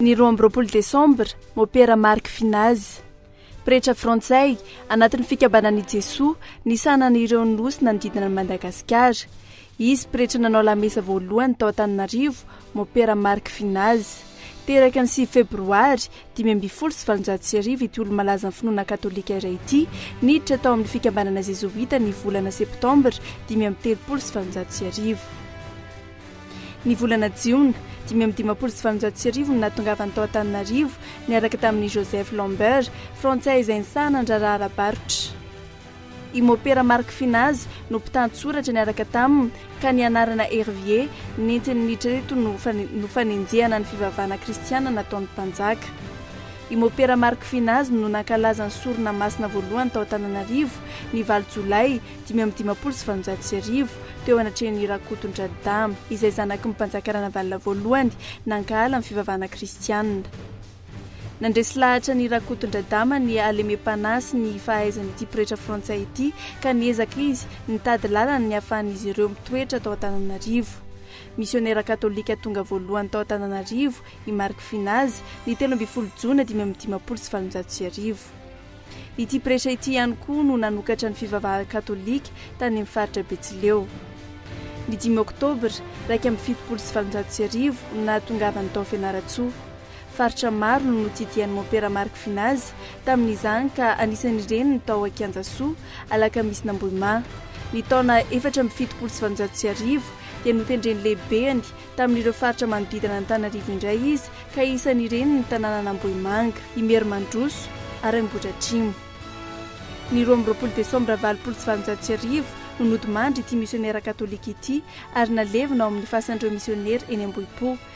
Ny roa amby roapolo desambra, Mopera Marc Finaz. Pretra frantsay, anatin'ny Fikambanan' i Jesoa, nisahanan' ireo Nosy nanodidina an'i Madagasikara. Izy pretra nanao lamesa voalohany tao Antananarivo, Mopera Marc Finaz. Teraka ny sivy febroary, Dimy ambin'ny folo sy valonjato sy arivo ity olo-malazan'ny finoana katolika iray ity niditra tao amin'ny fikambanana zezoita ny volana septambra dimy amby telopolo sy valonjato sy arivo. Ny volana jiona dimy amby dimampolo sy valonjato sy arivo no nahatongavany tao Antananarivo niaraka tamin'i Joseph Lambert, frantsay izay nisahana ny raharaha ara-barotra. I Mopera Marc Finazy no mpitantsoratra niaraka taminy ka ny anarana Hervier nentiny niditra teto no no fanenjehana ny fivavahana kristiana nataon'ny mpanjaka. I Mopera Marc Finazy no nankalaza ny sorona masina voalohany tao Antananarivo ny valo jolay dimy amby dimampolo sy valonjato sy arivo teo anatrehan'i Rakotondradidahy izay zanaky ny mpanjaka Ranavalona voalohany nankahala ny fivavahana kristiana. Nandresy lahatra ny Rakotondradama ny halemem-panahy sy ny fahaizan'ity pretra frantsay ity ka niezaka izy nitady lalana ny hahafahan'izy ireo mitoetra tao Antananarivo. Misionera katolika tonga voalohany tao Antananarivo i Marc Finazy ny telo ambin'ny folo jona dimy amby dimampolo sy valonjato sy arivo. Ity pretra ity ihany koa no nanokatra ny fivavahana katolika tany amin'ny faritra Betsileo. Ny dimy oktobra iraika amby fitopolo sy valonjato sy arivo no nahatongavany tao Fianarantsoa. Faritra maro no notsidihan'ny Mompera Marc Vinazy tamin'izany ka anisan'ireny ny tao Ankianjasoa, Alakamisin'Ambohimà. Ny taona efatra amby fitopolo sy valonjato sy arivo dia notendren'ny lehibeny tamin'ireo faritra manodidina an'Antananarivo indray izy ka isan'ireny ny tanànan'Ambohimanga, Imerimandroso ary Ambohidratrimo. Ny roa amby roapolo desambra valopolo sy valonjato sy arivo no nodimandry ity misionera katolika ity ary nalevina ao amin'ny fasan'ireo misionera eny Ambohipo.